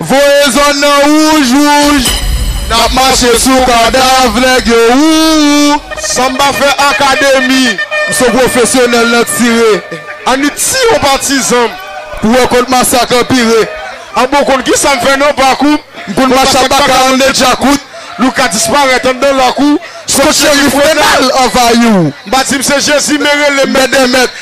Voye zòn nan wouj wouj. Nap mache sou kadav nèg yo wouwou. San m pa fè akademi. M son pwofesyonèl nan tire. An ni tiye yon patizan m. Pou wè kot masak anpire. An bon konn kisa m fè nan pakou m. M konn mache ak baka an de djakout. Louka disparèt anndan lakou. Son cherif Renal anvayi w. M pa di m se Jezi men rele m mèt dè mèt.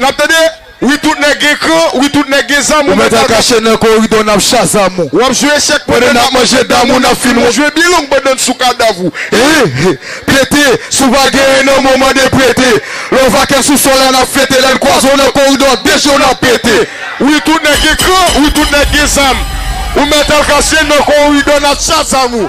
Nap tande wi tout nèg gen kran wi tout nèg gen zam ou mental kache nan koridò nap shazam ou wap jwe echèk pandan nap manje dam ou nap fin wont jwe byen long pandan n sou kadav ou ee pete si w pa genyen nan men w mande prete lè w vakè sou sòl la nap fete lè n kwaze w nan koridò de je w nap pete wi tout nèg gen kran wi tout nèg gen zam ou mental kache nan koridò nap shazam ou.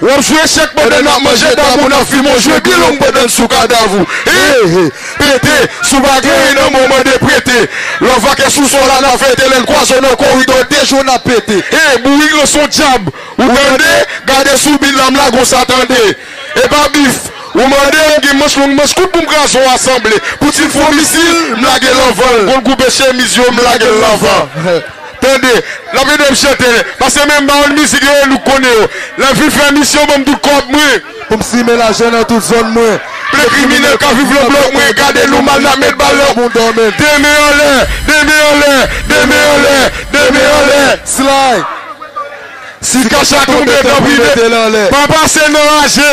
Wap jwe echèk pandan nap manje dab ou nap fimen w jwe bilong pandan n sou kadav ou Hee Pete Si w pa gen ri nan men w mande prete Love a kè sou sol a nap fete Lè n kwaze w nan koridò de jou nap pete Hee Bourik lan son dyab ou tande Gade sou bit la m lage w sa tande E pa bif ou mande M gen manch long manch kout pou m kraze w asanble Pou ti fo misil m lage l anvan l Kon l koube chemiz yo m lage l nan van. Tande, lap ede m chante. Pase men m ba w mizik yo nou k konnen yo. Lè m fin fè misyon ban m tout kòb mwen. Pou m simen lajè nan tout zòn mwen. Ple kriminèl k ap viv nan blòk mwen gade nou mal n ap met bal nan bouda men. De men anlè, de men anlè, de men anlè, de men anlè. Slay! Si kach la tonbe tanpri mete l anlè. Pa pase nan raje.